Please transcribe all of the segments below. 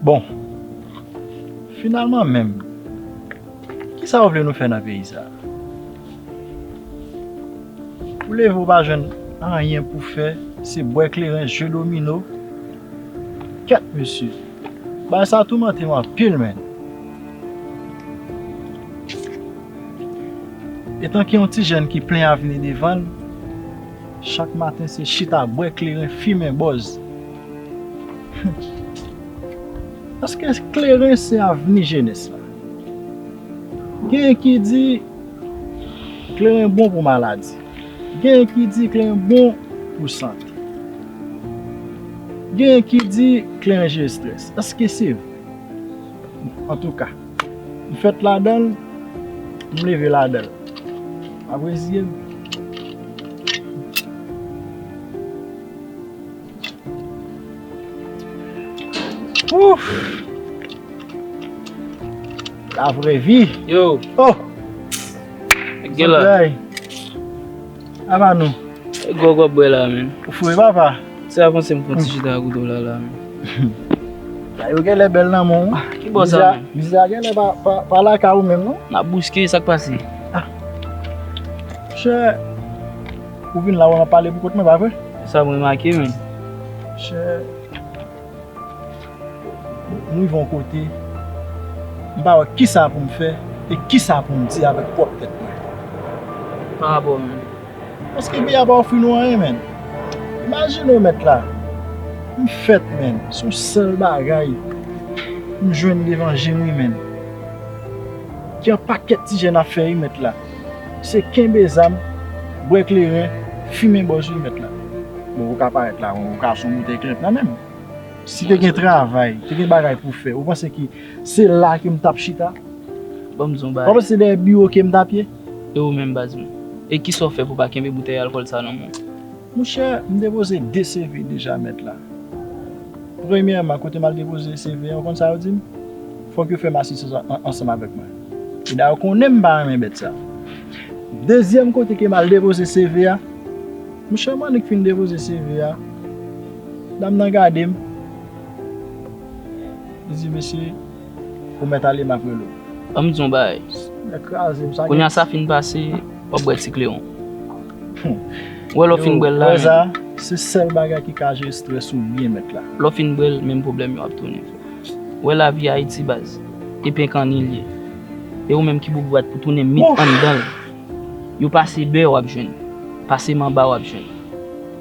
Bon, finalman menm, ki sa ou vle nou fè nan peyi sa? Ou leve ou pa jwenn anyen pou fè, se bwè kleren, jwe domino, kèt mesye. Bagay sa toumante m anpil menn. Etan ki yon ti jèn ki plen avni devan l. Chak maten se chita bwè kleren fimen bòz Humm eske kleren se avni jenès la? Genyen ki di kleren bon pou maladi Genyen ki di kleren bon pou sante Genyen ki di kleren jere strès eske se vre? Antouka. M fèt ladan l, m leve ladan l. Map reziye m. Ouf! La vrè vi. Yo! Oh! Gen lè. Bon bagay. A ba nou. E grog wap bwe la menm. Ou fou e papa. Se a konse m pran ti chita ak ou do la la menm. Bagay yo genlè bel nan menw wi. Ki bo sa menm. Mize a genlè pa lakay ou menm non. Nap bouske sak pase. Monchè ou vin la wè map pale pou kont mwen pa vre? Esam remake menm. Monchè. M rive yon kote, m pa wè kisa pou m fè e kisa pou m di avèk pwòp tèt mwen. Para bò menm. Paske bi a pa ofri nou anyen menn. Imajine w mèt la, m fèt menn, se yon sèl bagay m jwenn levanjil wi menn. Gen yon pakèt ti jèn ap fè wi mèt la. Se kenbe zam, bwè kleren, fimen bòz wi mèt la. Bon ou ka parèt la, ou ka son boutèy klèt nan menm. Si te gen travay, te gen bagay pou fè, ou panse ki se la ke m tap chita? Banm di w yon bagay. Ou panse se dèyè biwo ke m tap ye? E ou menm baz m? E kisa w fè pou w pa kenbe boutèy alkòl sa nan men w? Mouche, m depoze 2 CV deja mèt la. Premyèman, kote m al depoze CV an, ou konn sa yo di m? Fòk yo fè m asistans ansanm avèk mwen. E dayè ou konnen m pa renmen bèt sa. Dezyèm kote ke m al depoze CV a, mouche m annik fin depoze CV a, Dam nan gade m. Li di, Mesye, ou mèt ale, m ap rele w. Ban m di w yon bagay. Nèk kraze m. Kounye a sa fin pase, w ap bwè ti kleren w. Ou wè lè w fin bwè l la. Yo, wè sa? Se sèl bagay ki ka jere strès ou byen nèt la. Lè w fin bwè l, menm pwoblèm yo ap tounen. Ou wè lavi Ayiti baz? E penkanni l ye. E ou menm ki bout bwat pou tounen mit anndan l. Yo pase bè w ap jwenn. Pase manba w ap jwenn.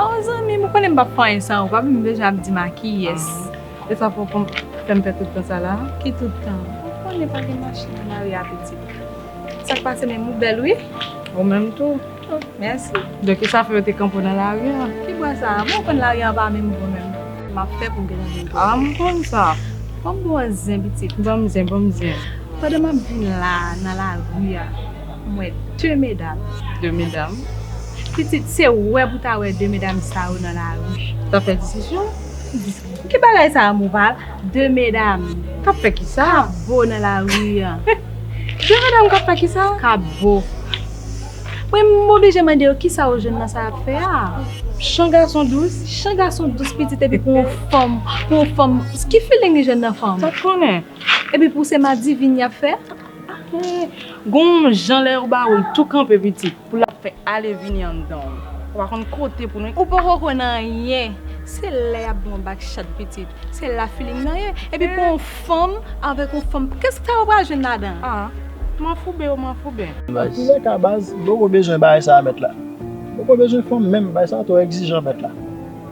Aww zanmim ou konnen m pap fè anyen san ou pa vin deja ap dim a kiyès e sa pou konn fèm fè tout tan sa la ki tout tan ou konnen pa gen mache nan lari a pitit sak pase menm ou bèl wi ou menm tou oh mèsi donk e sa fè yo te kanpe w nan lari a ki bwa sa bon ou konn lari a pa menm bon menm map fè pou m gentan vin jwenn ou ah m konn sa banm bon zen pitit banm zen banm zen pandan map vin la nan lari a. Mwen de medam. De medam. Pitit se wè pou ta wè de medam sa yo nan lari. Tap fè diskisyon. Ki bagay sa a Moval? De medam. Kap fè ki sa? Kap bo nan lari an. De medam kap fè ki sa? Kap bo. Mwen m oblije mande yo ki sa yo jwenn nan sa yap fè a? Chan gason dous. Chan gason dous pitit epi pou yon fanm, pou yon fanm. Ki feeling li jwenn nan fanm? Sa konnen. Epi pou se madivin yap fè? Gon w jan lè yo ba ou l tou kanpe pitit pou lap fè ale vini anndan w. Ou pa konn kote pou nou. Ou poko konn anyen. Se lè yap ba w bak chat pitit se la filing nan ye. Epi pou yon fanm avèk yon fanm kèsk sa yo pral jwenn ladan. Ah manfouben yo manfouben. Nan toulè ka baz m poko bezwen bagay sa mèt la. M poko bezwen fanm menm bagay sa twò egzijan mèt la.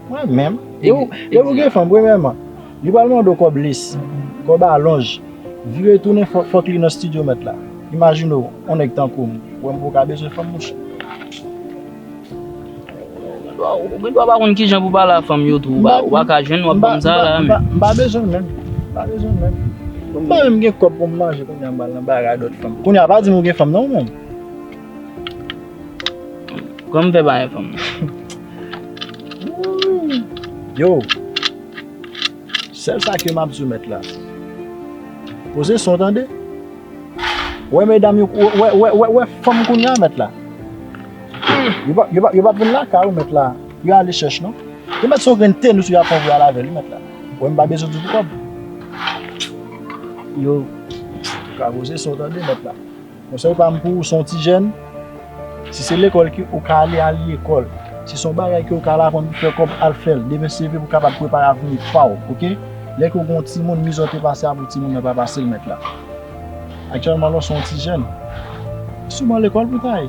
Mwen menm. Depi w gen fanm premyèman. Li pral mande w kòb lesi, kòb alonj, vire tounen fòk li nan stidyo mèt la. Imajine w, on nèg tankou m, wè m pou w ka bezwen fanm mouche. Ou gen dwa pa konn kijan pou pale a fanm yo tou, ou pa ka jwenn wap ban m sa la a menm. M pa bezwen menm, m pa bezwen menm. M pa menm gen kòb pou m manje kounya m pral nan baray a dòt fanm. Kounya pa di m ou gen fanm non ou menm. Kòman m fè pa gen fanm? Yo! Sèl sa ke map diw mèt la. Poze son tande. Wè medam yo wè wè wè wè fanm kounya mèt la. Yo pa yo pa yo pa vin lakay ou mèt la. Yo ale chèch non. Yo mèt son grenn tenis yo ap pran pou yo al avèl wi mèt la. Wè mpa bezwen diw pou kòb. Yo ka poze son tande mèt la. Konsèy pa m pou ou, si w son ti jèn, si se lekòl ki ou ka ale, al lekòl. Si son bagay ke ou ka al aprann pou fè kòb, al fè l. Demen seve pou kapab prepare avni pa w, oke? Lè ke ou gen yon timoun, mizè w te pase a pou timoun nan pa pase l mèt la. Aktyèlman la w son ti jèn. Souman lekòl pou ta ye.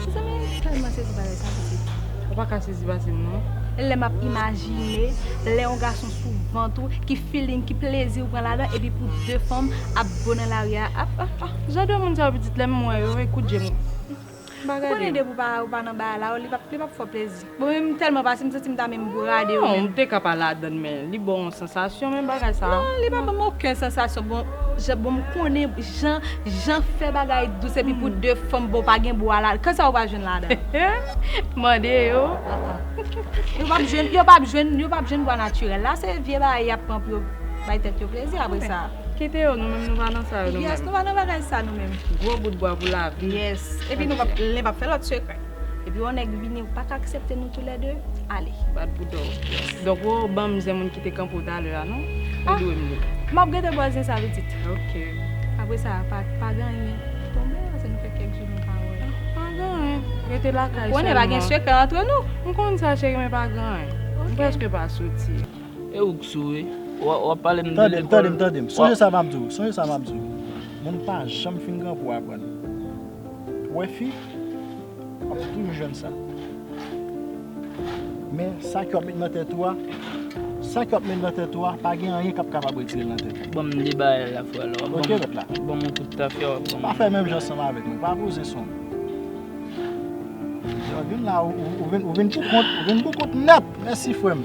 Mezanmi m tèlman sezi bagay sa pitit. Ou paka sezi pasem non. Lè map imajine lè yon gason sou vant ou ki feeling ki plezi ou pran ladan epi pou 2 fanm ap bo nan lari a ap ah ah. Jan de moun sa yo pitit lèm wè yo e kout jem ou pa gadem. Ou konnen depi ou pa nan bagay la yo li pap fè w plezi. Mwen menm m telman pase m santim ta menm brade yo menm. Non, m te ka pa ladann men li banw yon sansasyon menm bagay sa. Non, li pa banm oken sansasyon bon jan bon m konnen jan jan fè bagay dous epi pou 2 fanm bon pa gen bwa la kisa ou pa jwenn ladann? Mande yo. Yo pap jwenn yo pap jwenn yo pap jwenn bwa natirèl la se vye bagay yap pran pou yo bay tèt yo plezi apre sa. Kite yo nou menm nou pa nan sa yo nou menm. Yes nou pa nan bagay sa nou menm. Gwo bout bwa pou lavi. Yes epi nou pap len pap fè lòt sekrè. Epi yon nèg vini ou paka aksepte nou tou lè 2 ale. Bat pou dòw. Donk ou banm zen moun ki te kanpe w talè a non. Ou dwe m li. Map gade bò zen sa pitit. Ok. Apre sa pa gen anyen ki tonbe pase nou fè kèk jou nou pa wè. Pa gen anyen. Rete lakay selman. Ou konnen pa gen sekrè antre nou. M konn sa cheri men pa gen anyen. M prèske pa soti. E ou k sou wi. Wap pale m de lekòl. Tande m tande m tande m. Sonje sa map di w sonje sa map di w. Moun pa janm fin gran pou aprann. Wè fi, wap toujou jwenn sa. Men sa ke wap met nan tèt ou a, sa ke wap met nan tèt ou a, pa gen anyen kap kapab retire l nan tèt ou. Banm de bagay la frè la. Ok ret la. Wap banm yon kout tafya wap banm. Pa fè menm jan ansanm avèk mwen, pa poze son. Vin la ou vin pou kont, ou vin pou kont nèt. Mèsi frè m.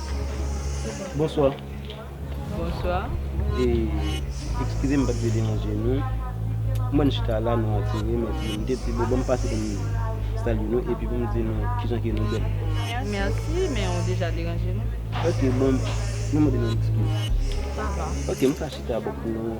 Bonsoir. Bonsoir. Excusez m pat vle deranje nou. M wè n chita la nou atire m epi m te di bon banm pase pou m salye nou epi pou m di nou kijan ke nou bèl. Merci men ou deja deranje nou. Ok bon nou mande nou excuse. Sa va. Ok m ka chita bò kote nou.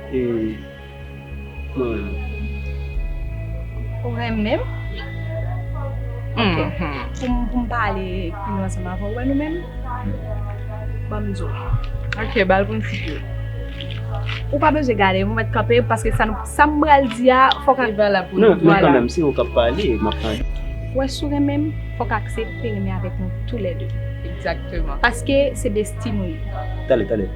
Ou renmen m? Ok, pou m pale pi lwen ansanm avè w, ou wè nou menm? Ban m di w. Ok, ba l pou m site l. Ou pa bezwen gade m, ou mèt kanpe paske sa nou, sa m pral di a fò k. Se valab pou nou. Non, kanmenm, se ou k ap pale, m ap tande. Ou wè si w renmen m, fò k aksepte renmen avèk nou toulède. Egzakteman. Paske se desti nou ye. Tande, tande.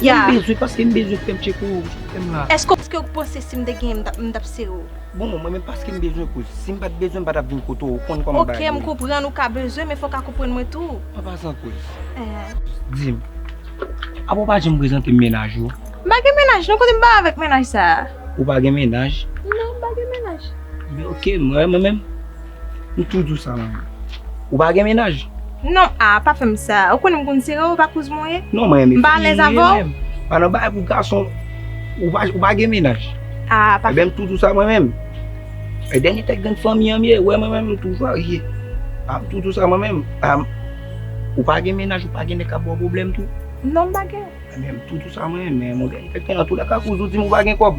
Ya. M bezwen paske m bezwen fèm tcheke ou wi, fèm la. Eske ou panse sim te genyen m tap sere ou? Bon mwen menm paske m bezwen kouz, sim pat bezwen m pa tap vin kote w, ou konn kòman bagay ye. Ok m konprann ou ka bezwen men fò w ka konprann mwen tou. An pasan kouz. Dim, apa ou pa janm prezante m mennaj ou? M pa gen mennaj non, kote m pale avèk mennaj sa a? Ou pa gen mennaj? Non m pa gen mennaj. Ok, mwen menm? Ou tou dous a lanmou. Ou pa gen mennaj? Non, ah pa fè m sa. Ou konnen m konn sere w, ou pa kouz mwen? Non mwen renmen fi. M pa alèz avè w? Pa nan bagay pou gason. Ou pa gen mennaj? Ah pa. Ebyen m tou dous a mwen menm. E dènye tèt grenn fanmi an m ye. Ou wè mwen menm m tou varye. Ah m tou dous a mwen menm. Ah m. Ou pa gen mennaj, ou pa gen nèg k ap ba w pwoblèm tou? Non m pa gen. Mwen tou tou sa mwen men mwen gen tèt an tou la kaka ou zo di mwen pa gen kòb.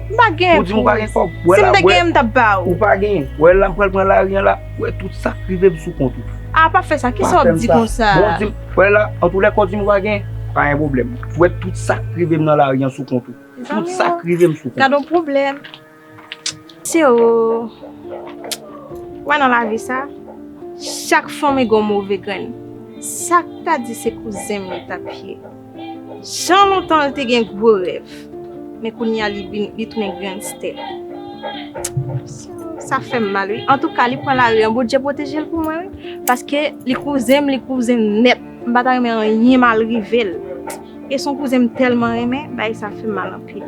Mwen pa gen. Ou di mwen pa gen kòb. Si mwen te gen mwen tap ba ou. Ou pa gen. Wè la mwen pral pran la riyan la. Wè tout sa k rive m sou kont ou. A pa fè sa ki sa wap di konsa. Bon di m wè la an tou lè kòw di mwen pa gen pa gen pwoblèm. Wè tout sa k rive m nan la riyan sou kont ou. Tout sa k rive m sou kont ou. Gadon pwoblèm. Se w wè nan lavi sa, chak fanmi gon move grenn. Sak ta di se kouzen m li tap ye. Jan lontan l te gen gwo rèv, men kounya li vin li tounen gangstè. Sa fè m mal wi. Antouka li pran lari an Bondye pwoteje l pou mwen wi. Paske li kouzen m li kouzen m nèt. M pa ta renmen anyen mal rive l. E son kouzen m tèlman renmen, bagay sa fè m mal anpil.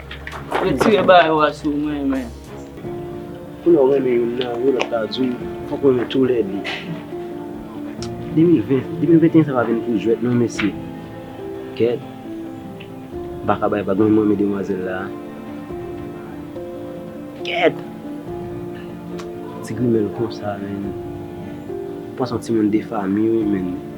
Retire bagay ou a si ou renmen. Pou lè ou renmen youn nan yo lòt la di w fòk ou renmen tou lè de. 2020, 2021 sa pa vin pou jwèt non mesye. Kèt. M pa ka bay vag menm m renmen demwazèl la. Kèt. Ti grimèl konsa menn. Ou pa son timoun defami wi menn.